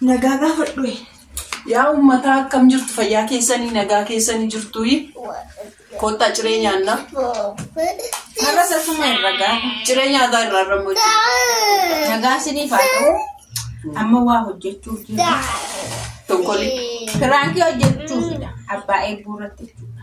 Nagaa gaafadhu. Yaa uummataa akkam jirtu fayyaa keessanii nagaa keessanii jirtu koottaa ciree nyaannaa. Har'a sasuma irra gaafa. Ciree nyaataa irraa irra hojjetu. Nagaa isiniif haa ta'u. Amma waa hojjechuuf jiru. Tokkolii. Piraankii hojjechuufidha. Abbaa eebbuu irratti jechuudha.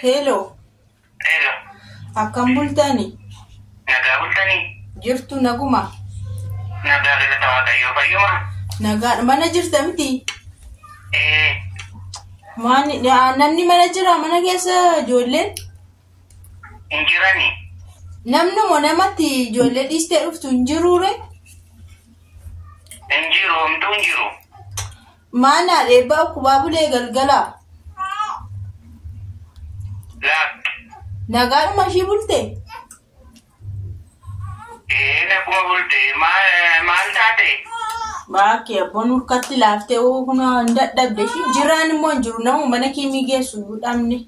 Hello, Hello, akkam bultani? nagaa bultanii? Jirtu naguma. Nagaa galata Waaqayyoo fayyuma? Nagaa mana jirta miti? Ee, Maani- aa, namni mana jira mana keessa ijoolleen? hin jirani. Namnumo namatti ijoollee dhiistee dhuftu hin jiruure. Hin jiru homtuu hin jiru. Maanaa dheebbaa ukkubaa bulee galgalaa. Laakk. Nagaadhuma ishii bulte. Ee naguma bulte maal maal taate? Baakki abboon hurkatti laaftee hoo kunoo hin dadhabde ishii jiraan immoo hin jiru nama mana kiimii geessu hin dhabne.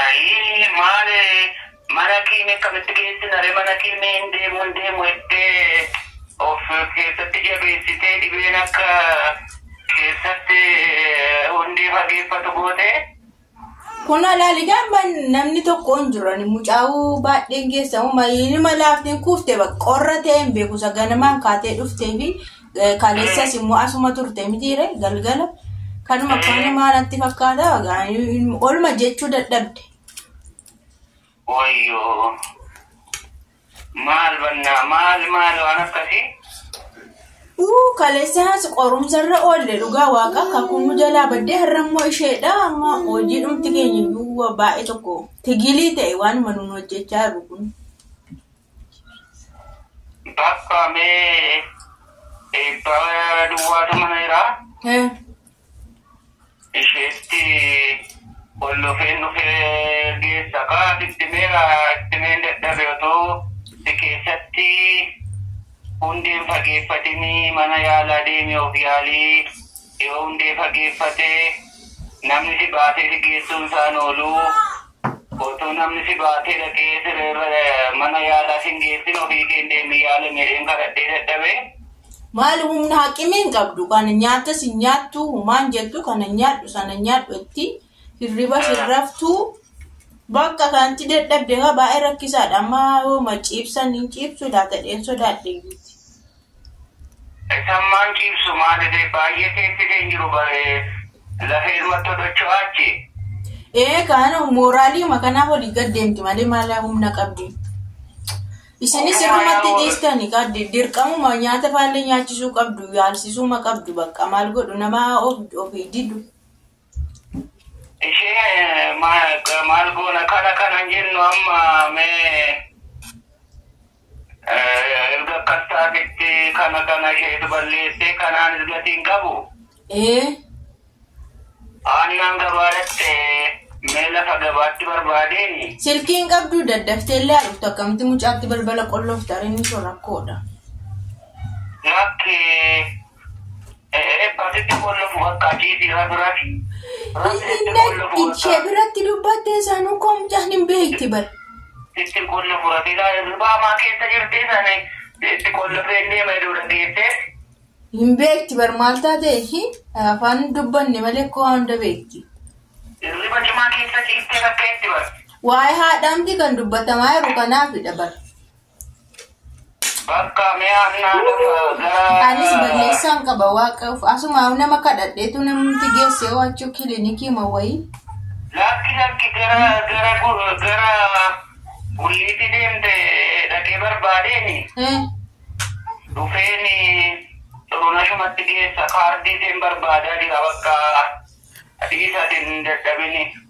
Ayii maale mana kiime akkamitti geessina re mana kiime hin deemu hin deemu jettee of keessatti jabeessitee dhibeen akka keessatti hundee fageeffatu gootee. Kun alaali gaamma namni tokko hin jiran mucaa'uu baadheen geessamu mayiinima laafteen kuufte qorra ta'e hin beeku isa ganamaan kaatee dhuftee fi Kaleessas immoo asuma turte mitiire galgala kanuma kanumaa natti fakkaata olma jechuu dadhabde. Wayyoo. Maal bannaa maal maal waan akkasii? Uu kaleessaas qorumsarra oolle dhugaa waaqa kakuu nu jalaa baddee har'a immoo isheedha amma hojii dhumti keenya iyyuu baay'ee tokko tigilii ta'e waanuma nuun hojjechaa jiru kun. Bakka mee eebba duwwaatu mana jiraa. Eh, Isheetti ol dhufeen dhufee geessa kaa sitti meera itti meen dadhabe otoo si keessatti hundeen fageeffatinii mana yaalaa deemee of yaalii Yoo hundee fageeffate namni si baatee si geessuun isaan oolu. Otuu namni si baatee dhaqee sireerra mana yaalaa sin geessin ofii keen deemii yaala meedheen kadhadhee dadhabe. Maal humna haqimii hin qabdu kana nyaatas hin nyaattu humaan jettu kana nyaadhu sana nyaadhu jetti hirribas hin raftu bakka kanatti dadhabde kaa baay'ee rakkisaadha amma yoo ma ciibsan hin ciibsu laatadheen sodaadhe. Xitammaan ciibsu maalidee baay'ee teessitee hin jiru bare lafee ilmatto docho'a achi. Ee kaan mooraaliima kanaaf olii gad deemti malee maala humna qabdi. Isinis Ofumaa irrumatti yaa'u. dhiistani kaa di- dirqamuma nyaata faallee nyaachisuu qabdu yaalsisuuma qabdu bakka maal godhu nama of ofii didu. Ishee eh, ma- ga- maal goona kana kanan jennu amma mee Erga akkas taatetti kana kana isheetu balleessee kanaanis gatii hin qabu. Ee. Aannaan gabaa dhaqxe mee lafa gabaatti barbaadeeni. Silkii hin qabduu daddafteellee haa dhuftu akkamitti mucaatti balbala qolloofta ree mishoo rakkoodha. Lakki. Ishee biratti dubbattee sanuu komjaan hin beekti bar. Itti qonna furate baamaa keessa jirti sani itti qonna feennee maydoo dhageessee. Hin beekti bar maal taatee afaan hin dubbanne malee koo hunda beekti. Hirriba cimaa keessa ciistee rakkeetti bar. Waa'ee haadhaamti kan dubbatamaa jiru kanaafidha bar. Bakka mee annaa nama gara. Anis balleessaan qaba waaqa of asuma nama kadhadheetu namni geessee waachuu kilinikii ma wayii. Lakki lakki gara gara gu- gara gulliitti deemte dhaqee barbaadeeni Eh, dhufeeni xurunashumatti geessa kaardii isheen barbaadaa jira bakka dhiisatiin hin dadhabini.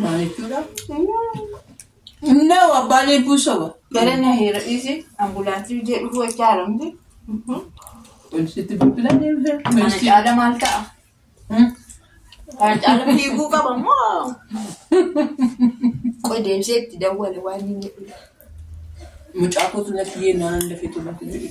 Maal jechuudha? Innoo abbaa leebbuu soba. Gara na heera dhiisi ambulaansii biyya dhufuu wajjin haaramti. Poolisitti bilbilaan deemte. Kana caala maal ta'a? Kana caala fiiguu qaba moo? Qoy deebisee itti dawwale waan inni jedhu. Mucaa kootu natti yennaan dafee tullatti jedhe.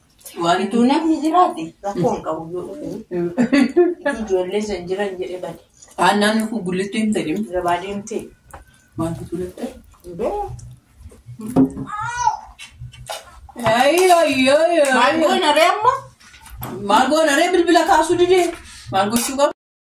Iddoo namni jiraate rakkoo hin qabu yoo dhufe. Iddoo ijoollee san jiran jedhe bade. Haannaan kun gullitti hin ta'in. Gabaa deemtee. Maaltu gullitti? Maal goona ree amma? Maal goona ree bilbila kaasuu didee? Maal gochuu qaba?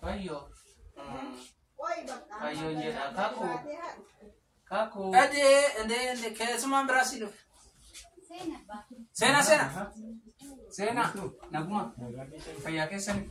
Fayyoo. Fayyoo jedha. Kakuu. Kakuu. Adee endee endee keessumaan biraa si dhufe. Seena seena. Seena. Naguma. Fayyaa keessanii.